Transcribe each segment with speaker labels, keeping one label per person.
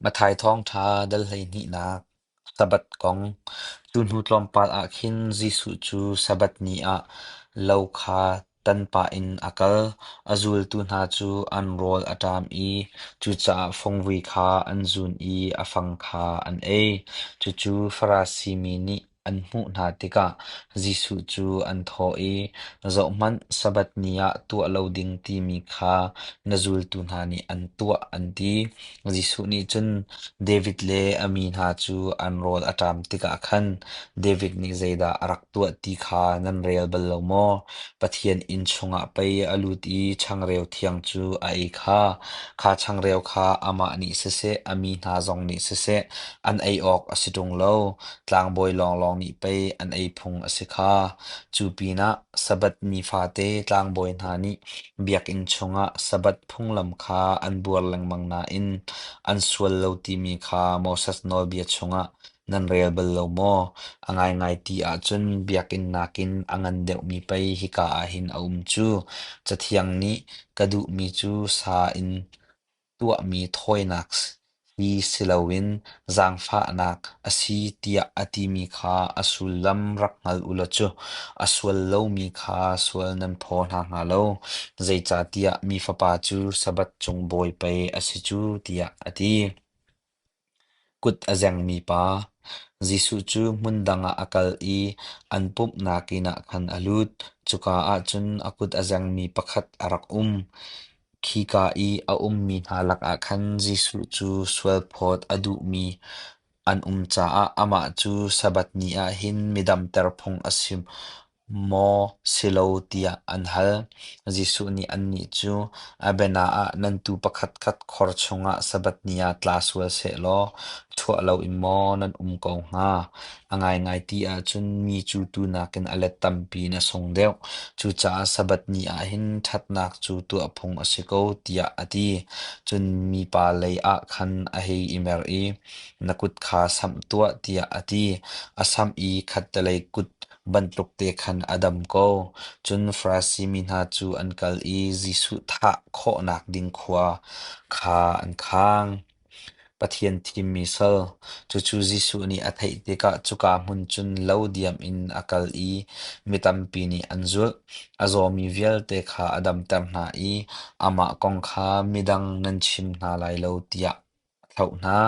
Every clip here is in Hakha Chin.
Speaker 1: Matthai Thawngṭha dal hleihnihnak Sabbath kong Cu hnu tlawmpal ah khin Jesuh cu Sabbath ni ah lo kha tan pah in a kal. A zultu hna cu an rawl a ṭam i cucaah fungvui kha an zun i a fang kha an ei. Cucu Farasi mi nih an hmuh hna tikah Jesuh cu an thawh i, Zohhmanh, Sabbath ni ah tuah lo ding timi kha na zultu hna nih an tuah, an ti. Jesuh nih cun David le a mi hna cu an rawl a ṭam tikah khan David nih zeidah a rak tuah ti kha nan rel bal lo maw? Pathian inn chungah pei a lut i changreu thiang cu a ei kha. Kha changreu kha amah nih siseh, a mi hna zong nih siseh, an ei awk a si ṭung lo. Tlangbawi lawnglawng nih pei an ei phung a si kha. Cu pinah Sabbath ni fate tlangbawi hna nih biakinn chungah Sabbath phunglam kha an buar lengmang nain an sual lo timi kha Moses nawlbia chungah nan rel bal lo maw? A ngaingai ti ahcun biakinn nakin a ngan deuhmi pei hika ah hin a um cu. Cathiang nih ka duhmi cu sa in Tuahmi thawinak hi si loin zaangfahnak a si tiah a timi kha a sullam rak hngal u law cu a sual lomi kha sual nan phaw hna hnga lo. Zeicahtiah mi Fapa cu Sabbath cung bawi pei a si cu tiah a ti. Kut a zengmi pa, Jesuh cu hmun dang ah a kal i an pumhnak inn ah khan a lut. Cuka ah cun a kut a zengmi pakhat a rak um. Khika i a ummi hna lakah khan Jesuh cu sualphawt a duhmi an um caah amah cu Sabbath ni ah hin mi damter phung a si. Maw si lo tiah an hal. Jesuh nih annih cu, A bianah ah nan tuu pakhatkhat khor chungah Sabbath ni ah tla sual seh law chuah loin maw nan um ko hnga? A ngaingai ti ahcun mi cu tuu nakin a let tampi na sung deuh. Cucaah Sabbath ni ah hin ṭhatnak cu tuah phung a si ko tiah a ti. Cun mipa lei ah khan a hei i mer i, Na kut kha samh tuah tiah a ti. A samh i khattelei kut bantuk te khan a dam ko. Cun Farasi mi hna cu an kal i Jesuh thah khawhnak ding khua kha an khang. Pathian thimmi sal. Cucu Jesuh nih a theih tikah cuka hmun cun lo diam in a kal i mi tampi nih an zulh. A zawmi vialte kha a damter hna i amah kong kha midang nan chim hna lai lo tiah A thlauh hna.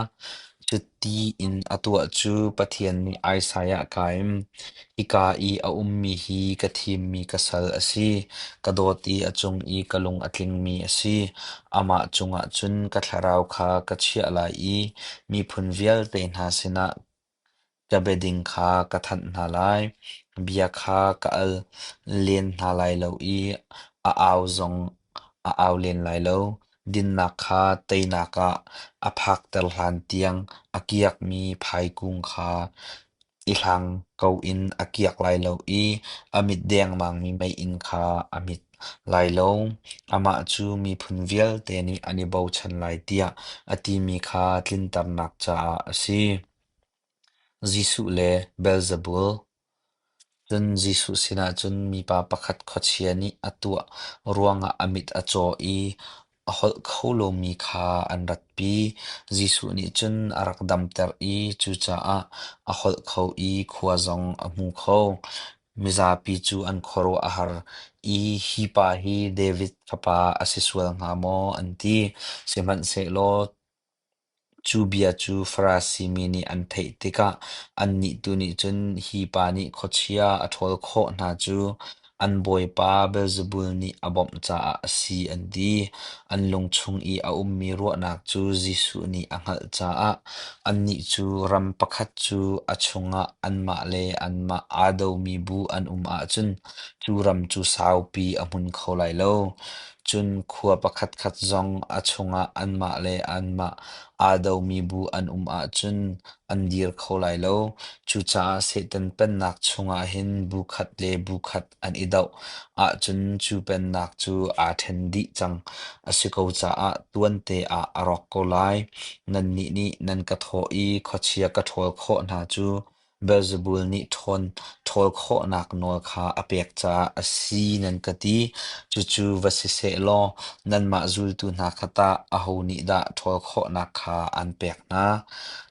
Speaker 1: Cuti in a tuah cu Pathian nih Isaiah a kaim, Hika i a ummi hi ka thimmi ka sal a si. Ka dawt i a cung i ka lung a tlingmi a si. Amah cungah cun ka thlarau kha ka chiah lai i miphun vialte hna sinah Bia be ding kha ka thanh hna lai, bia kha ka al len hna lai lo i a au zong a au len lai lo. Dinnak kha teinak ah a phakter hlan tiang a kiakmi phaikung kha i hlang ko in a kiak lai lo i a mit dengmangmi meiinn kha a mit. lailawng, amah cu miphun vialte nih an i bochan lai tiah a timi kha tlinternak caah a si. Jesuh le Beelzebul Cun Jesuh sinah cun mipa pakhat khuachia nih a tuah ruangah a mit a caw i a holh kho lomi kha an ratpi. Jesuh nih cun a rak damter i cucaah a holh kho i khua zong a hmu kho. Mizapi cu an khuaruah a har i hi pa hi David fapa a si sual hnga maw an ti. Sihmanhsehlaw Cu bia cu Farasi mi nih an theih tikah annih tu nih cun hi pa nih khuachia a ṭhawl khawh hna cu an bawipa Beelzebul nih a bawmh caah a si an ti. An lung chung i a ummi ruahnak cu Jesuh nih a hngalh caah annih cu ram pakhat cu a chungah anmah le anmah aa domi bu an um ahcun cu ram cu saupi a hmun kho lai lo. Cun khua pakhatkhat zong a chungah anmah le anmah aa domi bu an um ahcun an dir kho lai lo. Cucaah Satan Pennak chungah hin bu khat le bu khat an i doh ahcun cu Pennak cu aa ṭhen dih cang a si ko caah tuante ah a rawk ko lai. Nannih nih nan ka thawh i khuachia ka ṭhawl khawh hna cu Beelzebul nih ṭhawn ṭhawl khawhnak nawl kha a pek caah a si nan ka ti. Cucu va si seh law nanmah zultu hna kha tah aho nih dah ṭhawl khawhnak kha an pek hna?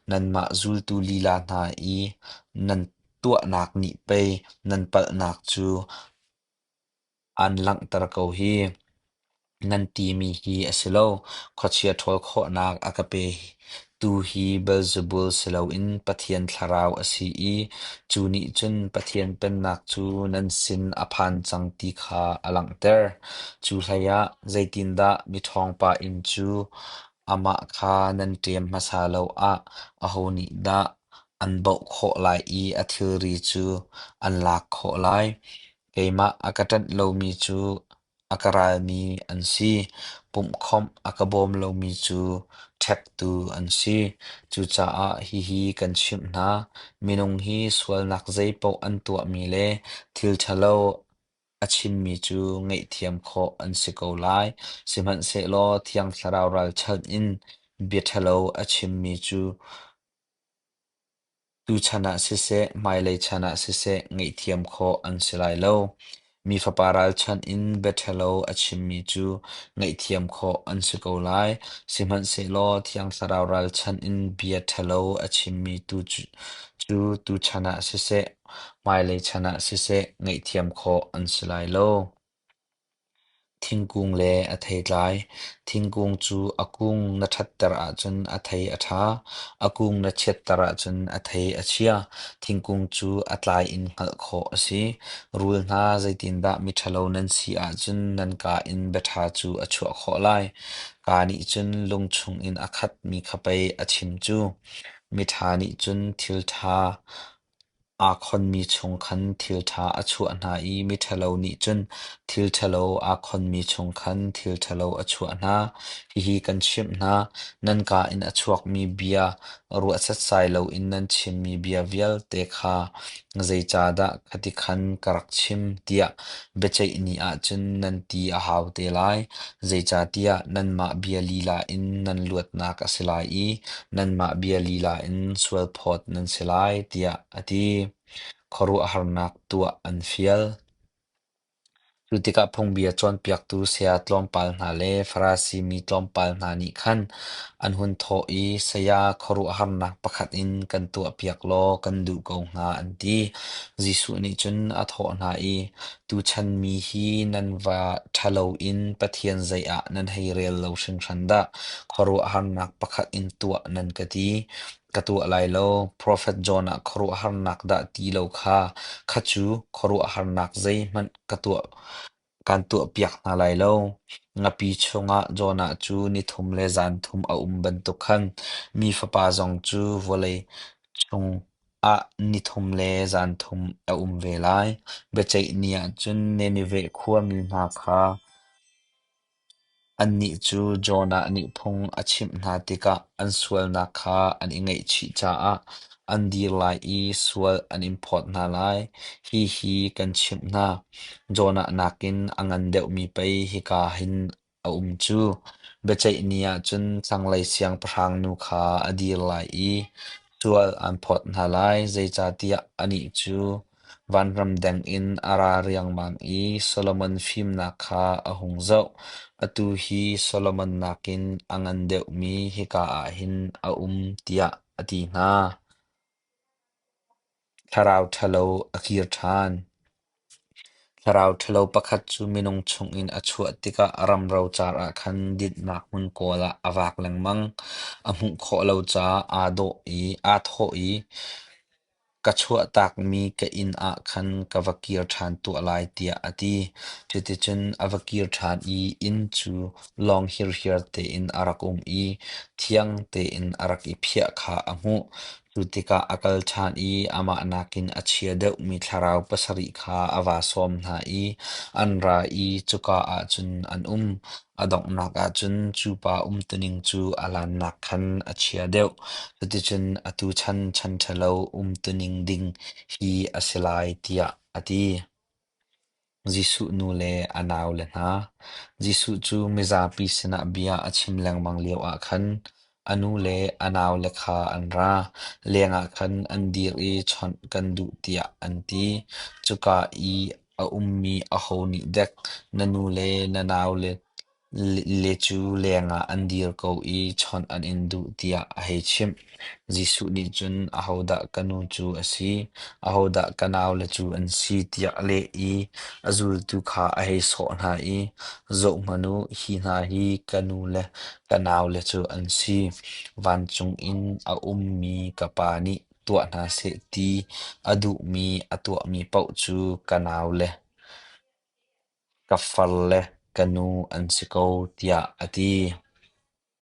Speaker 1: Nanmah zultu lila hna i nan tuahnak nih pei nan palhnak cu Aan langhter ko hi. Nan timi hi a si lo. Khuachia ṭhawl khawhnak a ka pe tu hi Beelzebul si loin Pathian thlarau a si i cu nih cun Pathian Pennak cu nan sin a phan cang ti kha a langhter. Cu hleiah zeitindah miṭhawngpa inn cu amah kha nan ṭem hmasa lo ah aho nih dah an baoh khawh lai i a thilri cu an lak khawh lai? Keimah a ka ṭanh lomi cu a ka ralmi an si, pumhkhawmh a ka bawm lomi cu ṭhektu an si. Cucaah hihi kan chimh hna, minung hi sualnak zeipaoh an tuahmi le thil ṭhalo a chimmi cu ngaihthiam khawh an si ko lai. Sihmanhsehlaw Thiang Thlarau ralchanh in bia ṭhalo a chimmi cu Tuchan ah siseh, hmailei chan ah siseh ngaihthiam khawh an si lai lo. Mi fapa ralchanh in biaṭhalo a chimmi cu ngaihthiam khawh an si ko lai. Sihmanhsehlaw thiang thlarau ralchanh in bia ṭhalo a chimmi tu cu tuchan ah siseh, hmailei chan ah siseh ngaihthiam khawh an si lai lo. Thingkung le a thei tlai. Thingkung cu a kung na ṭhatter ahcun a thei a ṭha. A kung na chiatter ahcun a thei a chia. Thingkung cu a tlai in hngalh khawh a si. Rul hna zeitindah miṭhalo nan si ahcun nan kaa in biaṭha cu a chuah khawh lai. Kaa nih cun lung chungin a khatmi kha pei a chim cu. Miṭha nih cun thil ṭha Aa khonmi chung khan thil ṭha a chuah hna i miṭhalo nih cun thil ṭhalo aa khonmi chung khan thil ṭhalo a chuah hna. Hihi kan chimh hna, nan kaa in a chuakmi bia, ruah setsai loin nan chimmi bia vialte kha zeicahdah ka ti khan ka rak chim, tiah Biaceih ni ahcun nan ti a hau te lai, zeicahtiah nanmah bia lila in nan luatnak a si lai i nanmah bia lila in sualphawt nan si lai, tiah a ti. Khuaruahharnak tuah an fial. Cu tikah phungbia cawnpiaktu saya tlawmpal hna le Farasi mi tlawmpal hna nih khan An hun thawh i, Saya, khuaruahharnak pakhat in kan tuahpiak law kan duh ko hnga, an ti. Jesuh nih cun a thawh hna i, Tuchan mi hi nan va ṭhalo in Pathian zei ah nan hei rel lo hringhran dah. Khuaruahharnak pakhat in tuah nan ka ti. Ka tuah lai lo. Profet John ah khuaruahharnak dah ti lo kha, kha cu khuaruahharnak zeihmanh ka tuah Kaan tuahpiak hna lai lo. Ngapi chungah Jonah cu nithum le zanthum a um bantuk khan mi fapa zong cu vawlei chungah nithum le zanthum a um ve lai. Biaceih ni ah cun Nineveh khuami hna kha Annih cu Jonah nih phung a chimh hna tikah an sualnak kha an i ngaihchih caah an dir lai i sual an in phawt hna lai. Hihi kan chimh hna, Jonah nakin a ngan deuhmi pei hika hin a um cu: biaceih ni ahcun thlanglei siangpahrang nu kha a dir lai i sual aan phawt hna lai, zeicahtiah anih cu Vanram deng in a ra riangmang i Solomon fimnak kha a hung zoh. Atu hi Solomon nakin a ngan deuhmi hika ah hin a um tiah a ti hna. Thlarau ṭhalo a kir ṭhan. Thlarau ṭhalo pakhat cu minung chungin a chuah tikah ramro car ah khan dinhnak hmun kawl ah a vak lengmang. A hmuh khawh lo caah aa dawh i aa thawh i, ka chuahtakmi ka inn ah khan ka va kir ṭhan tuah lai tiah a ti. Cuticun a va kir ṭhan i inn cu lawng hirhiar tein a rak um i thiang tein a rak i phiah kha a hmuh. Cu tikah a kal ṭhan i amah nakin a chia deuhmi thlarau pasarih kha a va sawm hna i an ra i cuka ah cun an um. A donghnak ahcun cu pa umtuning cu a lannak khan a chia deuh. Cuticun atu chan ṭhanṭhalo umtuning ding hi a si lai tiah a ti. Jesuh nu le a naule hna, Jesuh cu mizapi sinah bia a chim lengmang lioah khan A nu le a naule kha an ra, lengah khan an dir i chawnh kan duh tiah an ti. Cuka i a ummi aho nih dek na nu le na naule le cu lengah an dir ko i chawnh an in duh tiah a hei chimh. Jesuh nih cun, Ahodah ka nu cu a si? Ahodah ka naule cu an si? tiah a leh i a zultu kha a hei sawh hna i, Zohhmanh u, hi hna hi ka nu le ka naule cu an si. Vancung in a ummi ka Pa nih tuah hna seh ti a duhmi a tuahmi paoh cu ka naule, ka farle, ka nu an si ko tiah a ti.